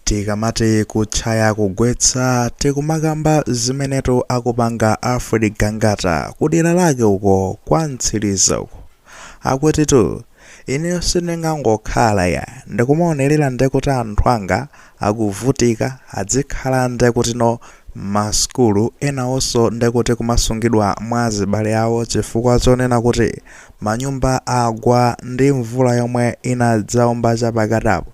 tikamati kutchaya kugwetsa tikumakamba zimenetu akupanga alfred gangata kudera lake uko kwa mtsiliza uko akutitu ineyo sindingangokhala ya ndikumaonerera ndekuti anthu anga akuvutika adzikhala ndekutino masukulu enawonso ndekuti kumasungidwa mwa azibale awo chifukwa chonena kuti manyumba agwa ndi mvula yomwe inadzaomba chapakatapo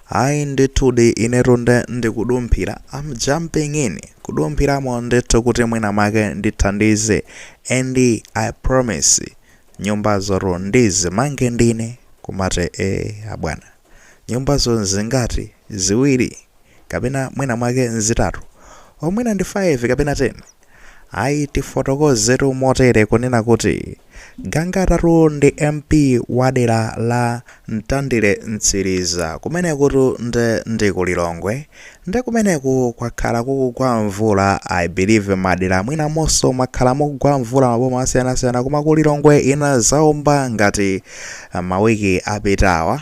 ayi ndithudi inetu nde ndikudumphira am jumping in kudumphiramo ndithu kuti mwina mwake ndithandize and i promise nyumbazotu ndizimange ndine kumate e abwana nyumbazo zingati ziwiri kapena mwina mwake zitatu o mwina ndi 5 kapena 10 Ayi tifotokozetu motere kunena kuti Gangatatu ndi MP wa dera la Mtandire Mtsiriza kumenekutu nde ndi ku Lilongwe nde kumeneku kwakhala kukugwa mvula I believe madera mwinamonso mwakhala mukugwa mvula maboma osiyanasiyana koma ku Lilongwe inazaomba ngati mawiki apitawa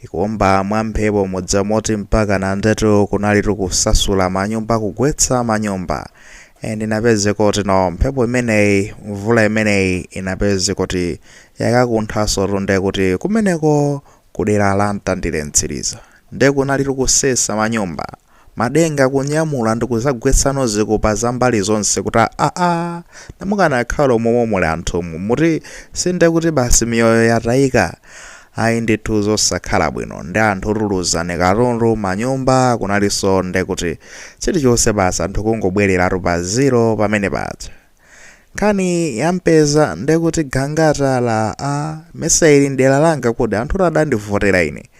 ikuomba mwamphepo mudziwa moti mpakana ndetu kunalitu kusasula manyumba kugwetsa manyumba and inapezeka kutino mphepo imeneyi mvula imeneyi inapeze kuti yakakunthaso tunde kuti kumeneko kudera la mtandire mtsiriza nde kunalitu kusesa manyumba madenga kunyamula ndikuzagwetsano zipupa zambali zonse kuti aa ndiye mukanakhalamo momwe muli anthumu muti sindekuti basi miyoyo yatayika ayi ndithu zosakhala bwino ndi anthu analuza katundu manyumba kunaliso ndekuti chilichonse basi anthu kungobwereratu pa zero pamene paja nkhani yampeza ndekuti gangata ya amesa ili mdera langa kodi anthu adandivotera ine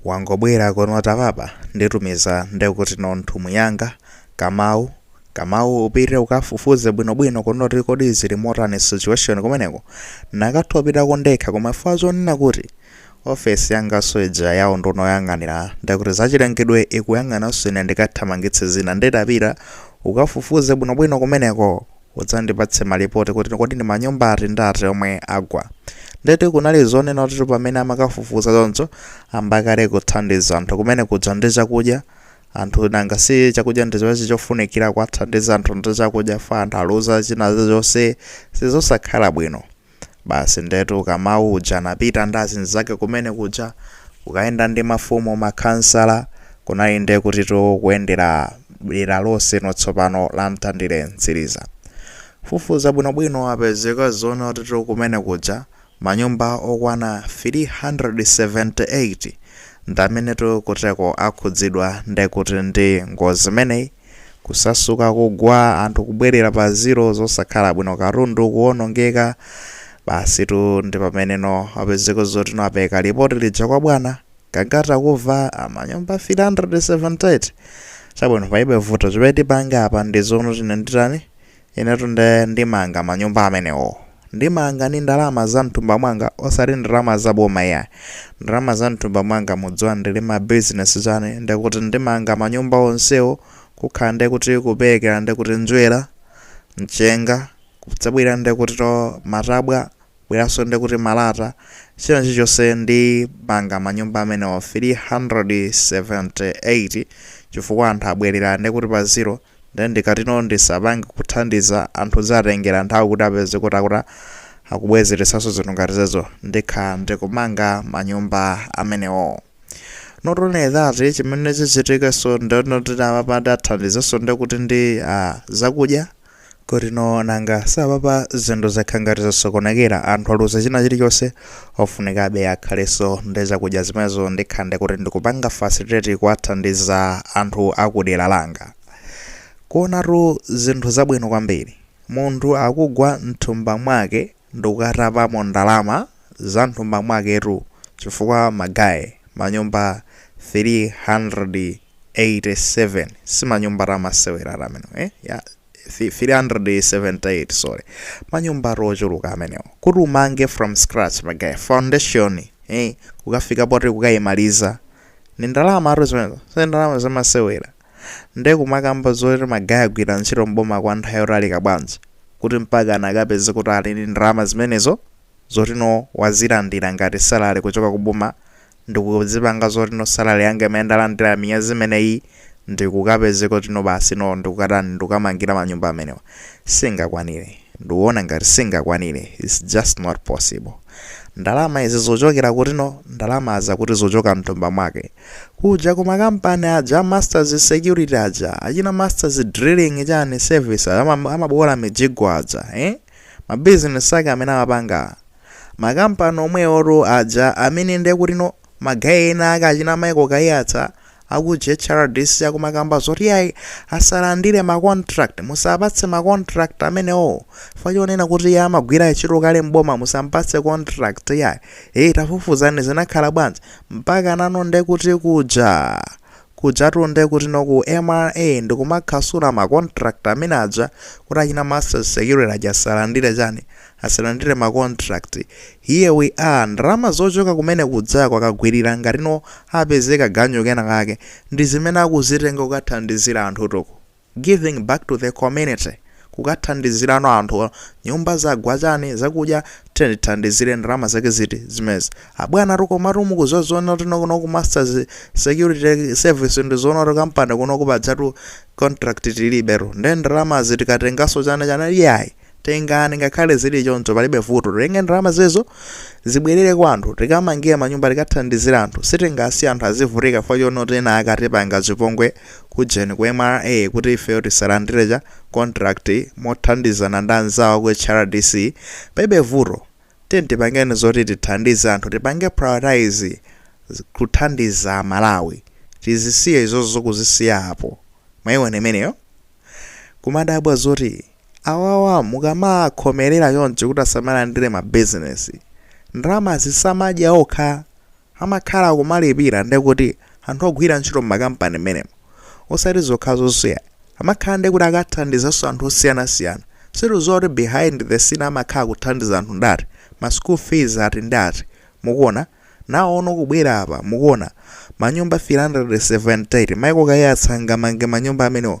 wangobwera kunota apapa nditumiza ndekuti no nthumwi yanga kamau kamau upite ukafufuze bwinobwino kunena kuti kodi zili motani situation kumeneko nakatha kupitako ndekha koma chifukwa zonena kuti Ofesi yanganso ija ya unduna woyang'anira ndekuti zachilengedwe ikuyang'ananso ine ndikathamangitse zina nde tapita ukafufuze bwinobwino kumeneko udzandipatse malipoti kuti kodi ndi manyumba ati ndi ati omwe agwa. Ndetu kunali zonena kutitu pamene amakafufuza choncho ayamba kale kuthandiza anthu kumene kuja ndi chakudya anthu nanga si chakudya ndi chimene chofunikira kuwathandiza anthu ndi chakudya fa anthu aluza china chilichonse zosakhala bwino. Basi ndetu Kamau uja anapita ndi azinzake kumene kuja kukayenda ndi mafumu, makhansala, kunali nde kutitu kuyendera dera lonse no tsopano la Mtandire Mtsiriza. Kufufuza bwinobwino apeza ka zoona kutitu kumene kuja manyumba okwana 378 ndamenetu kuteko akhudzidwa nde kuti ndi ngozi imeneyi. kusasuka kugwa anthu kubwerera pa zero zosakhala bwino katundu kuwonongeka basitu ndi pamene no apezeka zoti no apereka lipoti lija kwa bwana Gangata kumva manyumba 378 chabwino palibe vuto chimene tipange apa ndi zonoti ine nditani Inetu nde ndimanga manyumba amenewo. Ndimanga ndi ndalama za mthumba mwanga osati ndalama za boma iyayi. Ndalama za mthumba mwanga mudziwa ndili ma business chani ndekuti ndimanga manyumba onsewo kukhala ndekuti kuperekera ndekuti njerwa, mchenga, kudzabwera ndekutitu matabwa Kubweranso ndekuti malata, china chilichonse ndimanga manyumba amenewo 378 chifukwa anthu abwerera ndekuti pa zero ndi ndikati no ndisapange kuthandiza anthu zatengera nthawi kuti apezeke kuti akuti akubwezeretsanso zinthu ngati zimenezo ndikhala ndikumanga manyumba amenewo. Not only that chimene chichitikenso ndinoti apa ndiwathandizenso ndekuti ndi ah, zakudya kuti no nanga si apapa zinthu zakhala ngati zosokonekera anthu aluza china chilichonse ofunikabe akhalenso ndi zakudya zimenezo ndikhala ndekuti ndikupanga facilitate kuwathandiza anthu akudera langa kuonatu zinthu zabwino kwambiri munthu akugwa mthumba mwake ndukatapamo ndalama za mthumba mwaketu chifukwa ma guy manyumba 387 si manyumbatu amasewera amenewo eh ya 378 sorry manyumbatu ochuluka amenewo kuti umange from scratch ma guy foundation eh kukafika poti kukaimaliza ni ndalamatu zimenezo si ndalama zamasewera Nde kumakamba zoti ma guy agwira ntchito m'boma kwa nthawi yotalika bwanji kuti mpaka anakapeze kuti ali ndi ndalama zimenezo zoti no wazilandira ngati salary kuchoka ku boma ndikuzipanga zoti no salary yanga imene ndalandira miyezi imeneyi ndikukapezeka kuti no basi no ndikukatani ndikukamangira manyumba amenewa singakwanire ndikuona ngati singakwanire it's just not possible ndalama izi zochokera kuti no ndalama zakuti zochoka mthumba mwake kuja ku makampani aja a masters security aja achina masters drilling chani service aja ama- amaboola mijigo aja eh? mabizinesi ake amene amapanga makampani omweotu aja amene ndekuti no ma guy ena ake achina michael kaiyatsa akuje hrdc akumakamba zoti ayi asalandire macontract musapatse macontract amenewo chifukwa chonena kuti iye amagwira ntchito kale mboma musampatse contract yayi eyi tafufuzani zinakhala bwanji Mpaka pano nde kuti kuja? Kujatu nde kuti no ku mra ndikumakhasula ma contract amene aja kuti achina masters security aja asalandire chani? Asalandire ma contract. Here we are ndalama zochoka kumene kujako akagwirira ngati no apeze kaganyu kena kake ndi zimene akuzitenga kukathandizira anthutu uku. Giving back to the community, Kukathandizirano anthu, nyumba zagwa chani, zakudya, tiyeni tithandizire, ndalama zake ziti zimenezi? Abwanatu komatu mukuziwa zonotino kuno ku Masters security service ndi zonoti company kunoku pajatu contract tilibetu nde ndalamazi tikatenganso chani chani iyayi. tengani ngakhale zili choncho palibe vuto titenge ndalama zimenezo zibwerere kwa anthu tikamangire manyumba tikathandizire anthu sitingasiye anthu azivutika chifukwa chonoti ena ake atipanga chipongwe kujeni ku mra kuti ifeyo tisalandire chani contract mothandizana ndi anzawo ku hrdc palibe vuto tiyeni tipangeni zoti tithandize anthu tipange prioritize z- kuthandiza amalawi tizisiye izozo kuzisiya apo mwaiona imeneyo kumadabwa zoti Awawa mukamakhomerera choncho kuti asamalandire ma business, ndalamazi samadya okha? Amakhala akumalipira ndekuti anthu ogwira ntchito mma company mmenemo. Osati zokhazoso yayi, amakhala ndekuti akathandizaso anthu osiyanasiyana. Sitikuziwa kuti behind the scene amakhala akuthandiza anthu ati ndi ati, ma school fees ati ndi ati, mukuona? Naonso kubwera apa, mukuona? Manyumba 378, Michael Kaiyatsa angamange manyumba amenewo.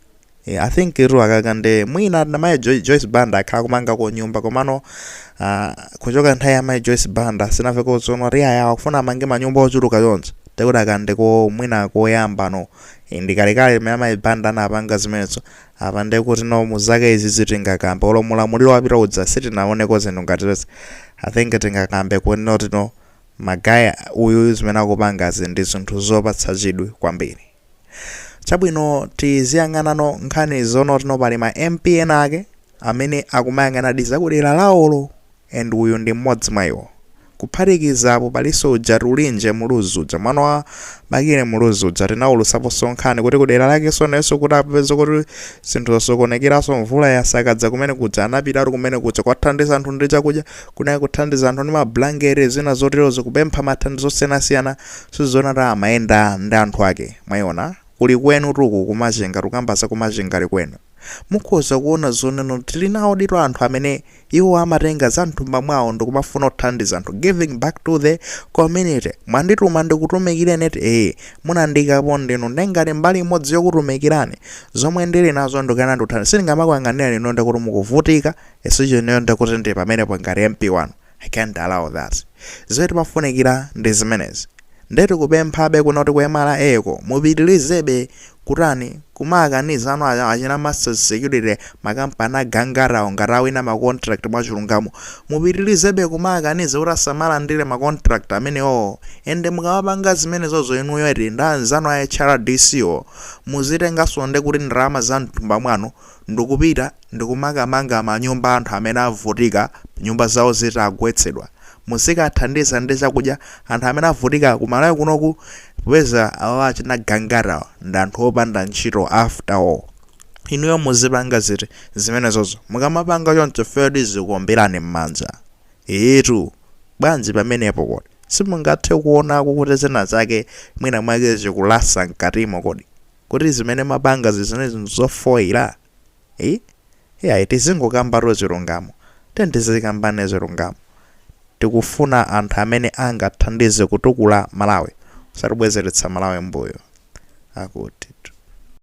Eh, I think ili aka ka nde mwina na mai Jo- Joyce Banda akhala akumangako nyumba komano ah, kuchoka nthawi ya mai Joyce Banda sinavekonso zonoti awa akufuna amange manyumba ochuluka yonse ndekuti aka nde ko mwina koyamba no Eh, ndikalekale mene mai Banda anapanga zimenezo apa nde kuti no mzake izi zitingakambe olo mulamuliro wapita uja sitinaoneko zinthu ngati izi I think tingakambe kuti no tino guy uyu zimene akupangazi ndi zinthu zopatsa chidwi kwambiri chabwino tiziyang'anano nkhani zonotino pali ma mp ena ake amene akumayang'anadi zakudera lawolo and uyu ndi mmodzi mwa iwo kuphatikiza apo palinso uja tulinje muluzi uja mwana wa bakili muluzi uja tinawulusaponso nkhani kuti kudera lakenso nayenso atapeza kuti zinthu zasokonekeraso mvula yasakaza kumene kuja anapitatu kumene kuja kukathandiza anthu ndi chakudya kunali kuthandiza anthu ndi mablanketi zina zoterozo kupempha mathandizo osiyanasiyana Sizoona ta amayenda ndi anthu ake mwaiona kuli kwenu tu uku kuMachinga tukamba za kuMachinga kuli kwenu mukhoza kuona zoneno tili nawo ndithu anthu amene iwo amatenga za mthumba mwawo ndikumafuna kuthandiza anthu giving back to the community mwandituma ndikutumikireni eti ee munandiikapo ndinu nde ngati mbali imodzi yokutumikirani zomwe ndili nazo ndikugawana ndikuthandiza sindingamakuyang'anireni inuyo ndikuti mukuvutika esicho inuyo ndikuti ndi pamenepo ngati MP wanu I can't allow that. Zimene timafunikira ndi zimenezi. Nde tikupemphabe kuno kuti ku mra ko mupitilizebe kutani kumaakaniza anu achina masters security makampani agangatawo ngati awina ma contract mwachilungamo mupitilizebe kumaakaniza kuti asamalandire ma contract amenewowo ende mukamapanga zimenezozo inuyo eti ndi anzanu a hrdc wo muzitengaso nde kuti ndalama za mthumba mwanu ndikupita ndikumakamanga manyumba anthu amene avutika nyumba zawo zitagwetsedwa muzikathandiza ndi chakudya anthu amene avutika ku Malawi kunoku popeza awa achina Gangata awa ndi anthu opanda ntchito after all inuyo muzipanga ziti zimenezozo mukamapanga choncho ifeyo tizikuomberani mmanja eetu bwanji pamenepo kodi simungathe kuonako kuti zina zake mwina mwake zikulasa mkatimo kodi kuti zimene mumapanga zizinezi nzofoira eyi iyayi tizingokambatu zilungamo tiyeni tizikamba zilungamo tikufuna anthu amene angathandize kutukula malawi osati kubwezeretsa malawi mbuyo akuti